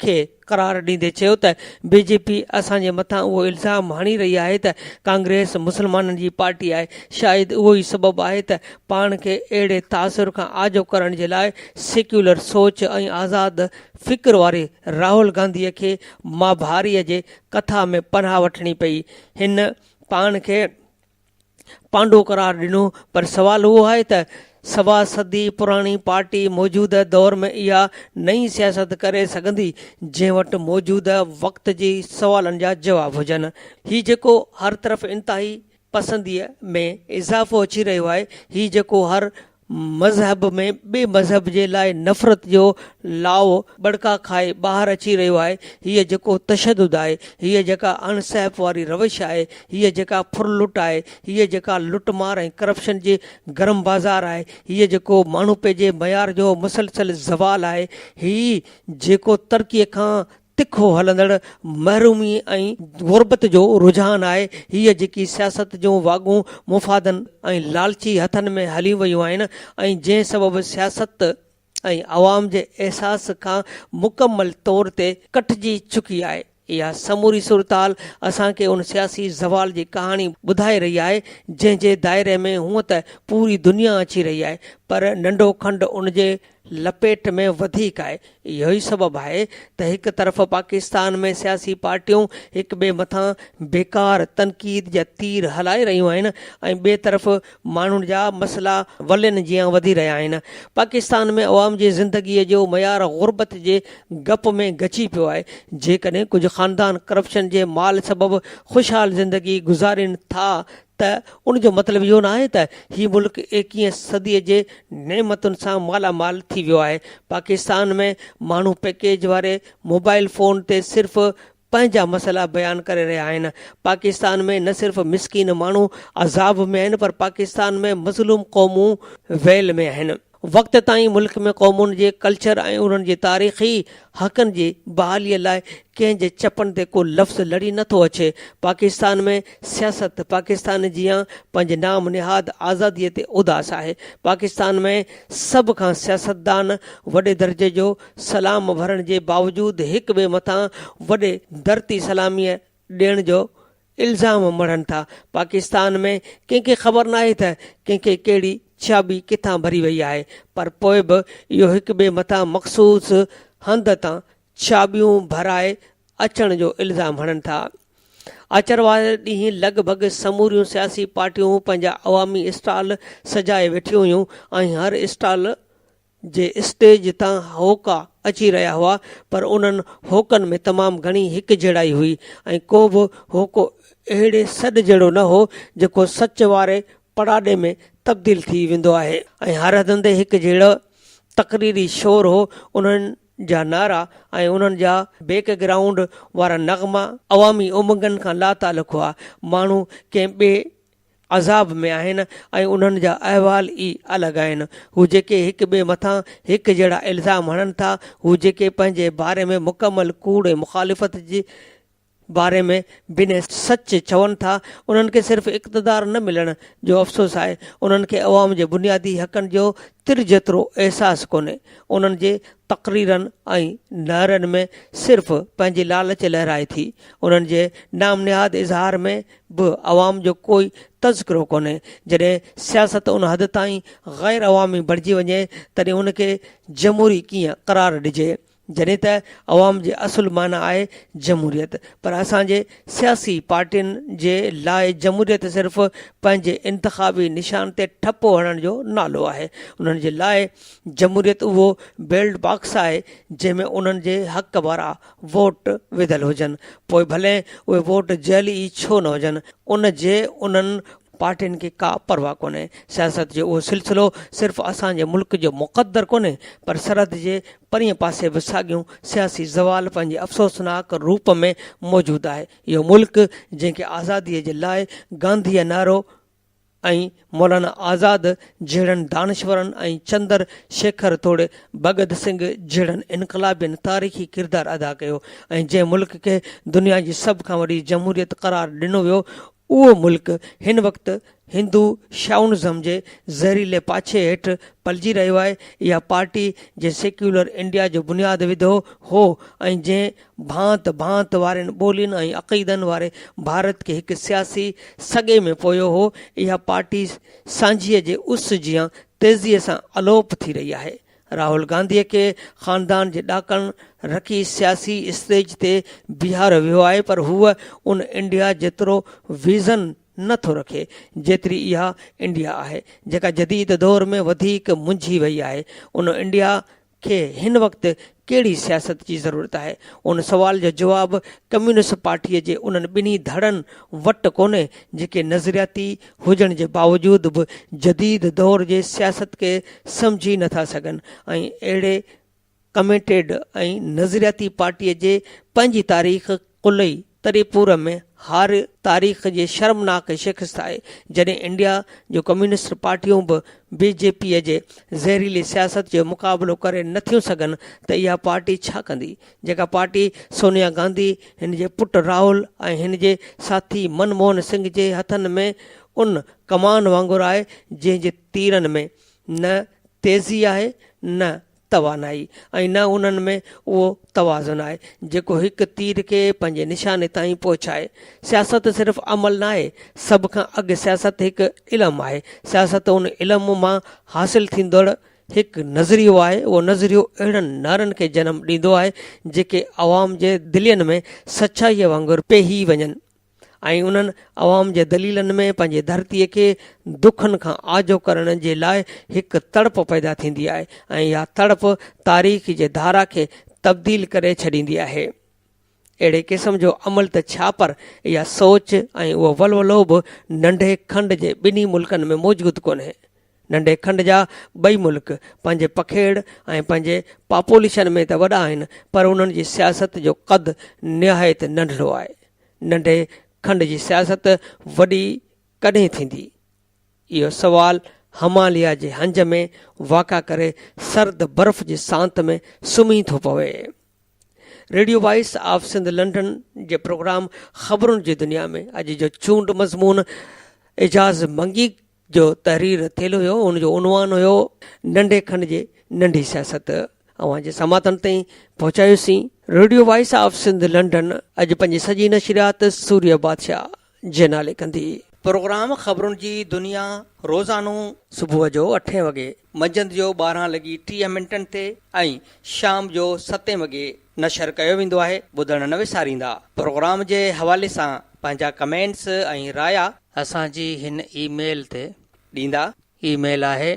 کي قرار ڏيندي چيو ته بي جي پي اسان جي مٿان اهو الزام هڻي رهي آهي ته ڪانگريس مسلمانن جي پارٽي آهي، شايد اهو ئي سبب آهي ته پاڻ کي اهڙي تاثر کان آجو ڪرڻ جي لاء سيڪيولر سوچ ۽ آزاد فڪر واري راهول گانڌي کي مهاڀاريء جي ڪٿا ۾ پناهه وٺڻي پئي. هن پاڻ کي پانڊو قرار ڏنو، پر سوال اهو آهي ته سوا صدي پراڻي پارٽي موجوده دور ۾ اها نئين سياست ڪري سگهندي، جنهن وٽ موجوده وقت جي سوالن جا جواب هجن. هي جيڪو هر طرف انتهائي پسنديء ۾ اضافو اچي رهيو آهي هي جيڪو هر مذهب ۾ ٻئي مذهب جي لاء نفرت جو لاوو ٻڙڪا کائي ٻاهر اچي رهيو آهي هي جيڪو تشدد آهي هي جيڪا اڻ سهپ واري روش آهي هي جيڪا ڦر لٽ آهي هي جيڪا لٽ مار ۽ ڪرپشن جي گرم بازار آهي هي جيڪو ماڻهوپي جي معيار جو مسلسل زوال آهي هي جيڪو ترقيء کان تکو هلندڙ محرومي ۽ غربت جو رجحان آهي، هيء جيڪي سياست جون واڳون مفادن ۽ لالچي هٿن ۾ هليون ويون آهن ۽ جنهن سبب سياست ۽ عوام جي احساس کان مڪمل طور تي ڪٽجي چڪي آهي، اها سموري صورتحال اسان کي ان سياسي زوال جي ڪهاڻي ٻڌائي رهي آهي، جنهن جي دائري ۾ هونء ته پوري دنيا اچي رهي آهي، پر ننڍو کنڊ ان جي لپيٽ ۾ وڌيڪ آهي. اهو ئي سبب آهي ته هڪ طرف پاڪستان ۾ سياسي پارٽيون هڪ ٻئي مٿان بيڪار تنقيد جا تير هلائي رهيون آهن ۽ ٻئي طرف ماڻهن جا مسئلا ولين جيان وڌي رهيا آهن. پاڪستان ۾ عوام جي زندگيء جو معيار غربت جي گپ ۾ گچي پيو آهي. جيڪڏهن ڪجهه خاندان ڪرپشن جي مال سبب خوشحال زندگي گذارين ٿا ته ان جو مطلب اهو نه آهي ته هي ملڪ ايڪيهين صدي جي نعمتن سان مالا مال ٿي ويو آهي، پاڪستان ۾ ماڻهو پيڪيج واري موبائيل فون تي صرف پنهنجا مسئلا بيان ڪري رهيا آهن، پاڪستان ۾ نه صرف مسڪين ماڻهو عذاب ۾ آهن پر پاڪستان ۾ مظلوم قومون ويل ۾ آهن. وقت تائين ملڪ ۾ قومن جي ڪلچر ۽ انهن جي تاريخي حقن جي بحاليء لاء ڪنهن جي چپن تي ڪو لفظ لڙي نه ٿو اچي. پاڪستان ۾ سياست پاڪستان جيان پنهنجي نام نهاد آزاديء تي اداس آهي. پاڪستان ۾ سڀ کان سياستدان وڏي درجي جو سلام ورهڻ جي باوجود هڪ ٻئي مٿان وڏي درتي سلاميء ڏيڻ جو الزام مڙهن ٿا، پاڪستان ۾ ڪنهن کي خبر ناهي ته ڪنهن کي ڪهڙي ڇياٻي ڪٿان ڀري وئي آهي پر پوء به اهو هڪ ٻئي مٿان مخصوص هنڌ تان ڇياٻيون ڀرائي اچڻ جو الزام هڻن ٿا. آچر واري ڏينهن لڳ ڀڳ سموريون سياسي پارٽيون پنهنجا عوامي اسٽال سجائي ويٺيون هيون ۽ هر اسٽال جي اسٽيج تان هوڪا اچي رهيا هئا پر انهن هوڪن ۾ تمام گهڻي هڪجهڙائي هئي ۽ ڪو به هوڪو اهڙي سڏ جهڙو نه هو جيڪو سچ واري پڙاڏي ۾ تبديل ٿي ويندو آهي ۽ هر هنڌ هڪجهڙو تقريري شور هو انهن جا نعرا ۽ انهن جا بيڪ گرائونڊ وارا نغما عوامي امنگن کان لاتعلق هئا ماڻهو ڪنهن ٻئي عذاب ۾ آهن ۽ انهن جا احوال ئي الڳ آهن. هو جيڪي هڪ ٻئي مٿان هڪ جهڙا الزام هڻن ٿا، هو جيڪي پنهنجي باري ۾ مڪمل ڪوڙ ۽ مخالفت جي باري ۾ بنهه سچ چون ٿا، انهن کي صرف اقتدار نه ملڻ جو افسوس آهي، انهن کي عوام جي بنيادي حقن جو تر جيترو احساس ڪونهي. انهن جي تقريرن ۽ نعرن ۾ صرف پنهنجي لالچ لهرائي ٿي. انهن جي نام نهاد اظهار ۾ به عوام جو ڪوئي تذڪرو ڪونهي، جڏهن سياست ان حد تائين غير عوامي بڻجي وڃي تڏهن ان کي جمهوري ڪيئن قرار ڏجي، جڏهن ته عوام جي اصل معنيٰ آهي جمهوريت، پر اسان جي سياسي پارٽين جي لاء جمهوريت صرف پنهنجي انتخابي نشان تي ٺپو هڻڻ جو نالو آهي، انهن جي لاء جمهوريت اهو بيلٽ باڪس آهي جنهن ۾ انهن جي حق وارا ووٽ وڌل هجن پوء ڀلي اهي ووٽ جعلي ئي ڇو نه هجن ان جي انهن پارٽين کي ڪا پرواهه ڪونهي سياست جو اهو سلسلو صرف اسان جي ملڪ جو مقدر ڪونهي پر سرحد جي پرينء پاسي به ساڳيون سياسي زوال پنهنجي افسوسناڪ روپ ۾ موجود آهي اهو ملڪ جنهن کي آزادي جي لاء گانڌيء نعرو ۽ مولانا آزاد جهڙن دانشورن ۽ چندر شيکر توڙي ڀڳت سنگهه جهڙن انقلابين تاريخي ڪردار ادا ڪيو ۽ جنهن ملڪ کي دنيا جي سڀ کان وڏي جمهوريت قرار ڏنو ويو اهو ملڪ هن وقت هندو شائونزم جي زهريلي پاڇي هيٺ پلجي رهيو آهي اها پارٽي جنهن سيڪيولر انڊيا جو بنياد وڌو هو ۽ جنهن ڀانت ڀانت وارين ٻولين ۽ عقيدن واري ڀارت کي هڪ سياسي سڳي ۾ پويو هو، اها پارٽي سانجهيء جي اس جيان تيزيء سان الوپ ٿي رهي آهي. راهول گانڌيء کي خاندان جي ڏاڪڻ رکي سياسي اسٽيج تي بيهاريو ويو آهي پر هو ان انڊيا جيترو ويزن نه ٿو رکي جيتري اها انڊيا آهي جيڪا جديد دور ۾ وڌيڪ منجهي وئي آهي ان انڊيا کي هن وقت ڪهڙي سياست جي ضرورت آهي؟ ان سوال جو جواب ڪميونسٽ پارٽيء جي انهن ٻنهي ڌڙن وٽ ڪونهي، جيڪي نظرياتي هجڻ جي باوجود به جديد دور جي سياست کي سمجهي نه ٿا سگهن ۽ اهڙي ڪميٽيڊ ۽ نظرياتي پارٽيء جي پنهنجي تاريخ قلعي تري پور ۾ هار تاريخ جي شرمناڪ شڪست آهي، جڏهن انڊيا جون ڪميونسٽ پارٽيون به بي جي پي جي زهريلي سياست جو مقابلو ڪري نه ٿيون سگهن ته اها پارٽي ڇا ڪندي؟ جيڪا پارٽي سونيا گانڌي، هن جي پٽ راهول ۽ هن جي ساٿي من موهن سنگهه جي هٿن ۾ ان ڪمان وانگر آهي جنهن جي تيرن ۾ نه تيزي آهي نه توانائي ۽ نه انهن ۾ اهو توازن آهي، جيڪو هڪ تير کي پنهنجي نشاني تائين پهچائي. سياست صرف عمل ناهي، سڀ کان اڳ سياست هڪ علم آهي. سياست ان علم مان حاصل ٿيندڙ هڪ نظريو آهي. اهو نظريو اهڙن نعرن کي جنم ڏيندو آهي، جيڪي عوام جي دلين ۾ سچائيء وانگر پيهي وڃن. ۽ انهن عوام جي دليلن ۾ پنهنجي ڌرتي کي دکن کان آجو ڪرڻ جي لاء هڪ تڙپ پيدا ٿيندي آهي ۽ اها تڙپ تاريخ جي ڌارا کي تبديل ڪري ڇڏيندي آهي. اهڙي قسم جو عمل ته ڇا پر اها سوچ ۽ اهو ولولو به ننڍي کنڊ جي ٻنهي ملڪن ۾ موجود ڪونهي. ننڍي کنڊ جا ٻئي ملڪ پنهنجي پکيڙ ۽ پنهنجي پاپوليشن ۾ ته وڏا آهن پر انهن جي سياست جو قد نهايت ننڍڙو آهي. ننڍي کنڊ جي سياست وڏي ڪڏهن ٿيندي؟ اهو سوال هماليا جي هنج ۾ واڪا ڪري سرد برف جي سانت ۾ سمهي ٿو پوي. Radio voice of Sindh London جي پروگرام خبرن جي دنيا ۾ اڄ جو چونڊ مضمون اعجاز منگي جو تحرير ٿيل هيو ان جو عنوان هيو ننڍي کن جي ننڍي سياست اوهان جي سماعتن تائين پهچايوسين radio voice of Sindh London اڄ پنهنجي سڄي نشريات سوريه بادشاهه جي نالي ڪندي. پروگرام خبرن جي دنيا روزانو صبح جو اٺين وڳي، منجهند جو ٻارهن لڳي ٽيهه منٽن تي ۽ شام جو ستين وڳي نشر ڪيو ويندو آهي ٻڌڻ نه وساريندا پروگرام جي حوالي سان پنهنجا ڪمينٽس ۽ رايا اسان جي هن اي ميل تي ڏيندا اي ميل آهي.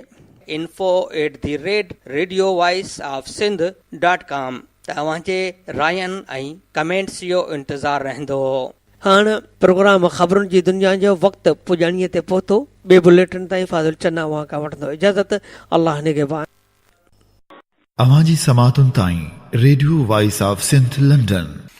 Info at the rate radio voice of Sindh dot com ته اوهان جي راين ۽ ڪمينٽس جو انتظار رهندو. هاڻ پروگرام خبرن جي دنيا جو وقت پڄاڻيء تي پهتو ٻي بليٽن تائين فاضل چنا اوهان کان وٺندو اجازت الله نگهبان. اوهان جي سماعتن تائين radio voice of Sindh London.